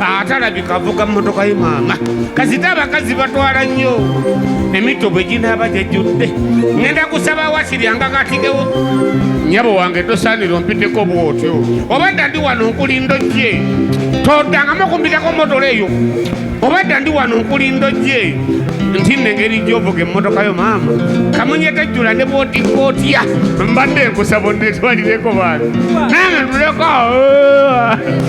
atalabika avuga mmotoka ye maama kasita abakazi batwala nnyo emito bwe ginaaba gyejjudde ŋenda kusaba wasiryanga katigewo nyabo wange tosaanira ompiteko bwotyo oba dda ndi wano nkulinda ojje toddangamu okumpitako mmotola eyo oba dda ndi wano nkulinda ojje nti nengeri gyovuga emmotoka yo maama kamunye tejjula ne bwotikka otya mbadde nkusaba onnetwalireko baana nange tuleko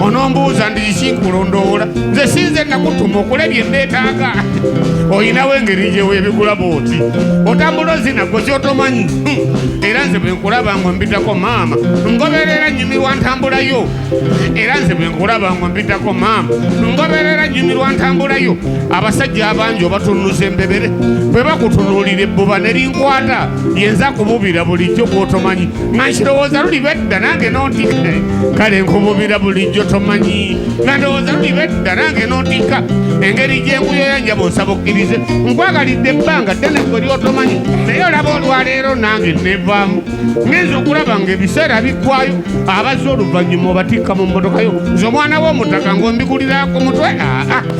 onombuuza ndikiki kulondoola nze sinze nakutuma okula bye nneetaaga olinawo engeri gye weebigula bwoti otambula ozinago kyotomanyi hmm. era nze bwe nkulaba ngo mbitako maama ngoberera nyumirwa ntambulayo era nze bwe nkulaba ngo mbitako maama ngoberera nyumirwa ntambulayo abasajja abangi obatunuza embebere bwe bakutunuulira ebbuba ne linkwata yenza kububira bulijjo bwotomanyi Nashirowooza luli bedda nange n'ontikka kale nkububira bulijjo tomanyi nga ndowooza luli bedda nange n'ontikka engeri gye nkuyoya njaba onsaba okkirize nkwagalidde ebbanga ddene gwe lyotomanyi naye olaba olwaleero nange nevaamu ngenza okulaba nga ebiseera biggwayo abazze oluvannyuma obatikka mu mmotoka yo nze omwana w'omutaka ng'ombikulira ku mutwe aa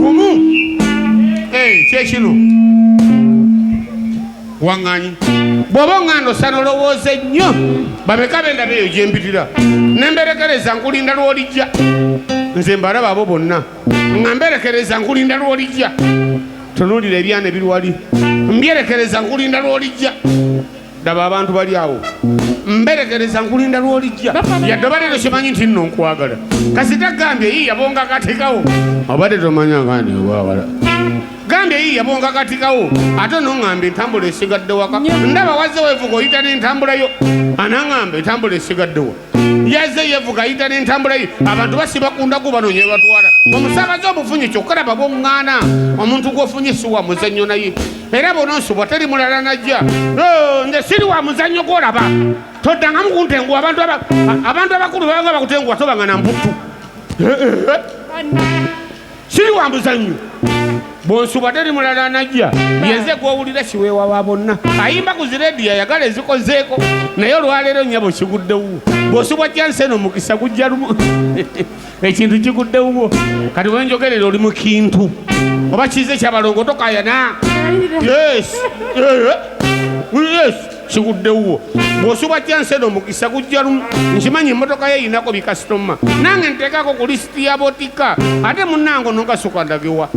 gumu eh, kyekino waŋŋanyi bw'oba oŋŋanda osana olowooze nnyo bameka bendaba eyo gye mpitira ne mberekereza nkulinda lw'olijja nze mbalaba abo bonna nga mberekereza nkulinda lw'olijja tunuulira ebyana ebiri wali mbyerekereza nkulinda lw'olijja daba abantu bali awo mberegereza nkulinda lwolijja yadde obadde tokimanyi nti nno nkwagala kasita gambye yii yabonga katikawo obadde tomanya ngandi nkwagala gambye yii yabonga katikawo ate onoŋŋamba entambula esigadde waka ndaba wazze wevuga oyita n'entambulayo anaŋŋamba entambula esigaddewo yazze yevuga ayita n'entambula ye abantu basiba ku ndagu banonye ebatwala omusaabaze omufunye kyokulaba bwoŋŋaana omuntu gwofunye si wa muzannyo naye era bononsubwa teri mulala najja oh, nze siri wa muzannyo gwolaba toddangamu kuntenguwa abantu abakulu babanga bakutenguwa tobanga na mbuttu eh, eh, eh. siri wa muzannyo bwonsubadde eri mulala anajja yenze gwowulira kiweewa wa bonna ayimba ku zirediyo ayagala ezikozeeko naye olwaleero nyabo kiguddewo bwosubwa jansi eno mukisa gujja lumu ekintu kiguddewo kati wenjogerera oli mukintu oba kize kyabalongo tokayana yes. yes. kigudde wuwo bw'osuba kyansena omukisa gujja lumu nkimanyi emmotoka ye yinako bikasitoma nange nteekako ku lisiti ya botika ate munnange onogasuka ndagewa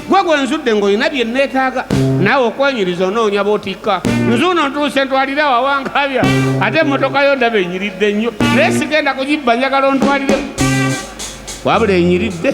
gwe gwe nzudde ng'olina bye nneetaaga naawe okwenyiriza onoonya botika nzuuno ntuuse ntwalire awawankabya ate emmotoka yo ndaba enyiridde nnyo naye sigenda kugibba njagala ontwalire wabula enyiridde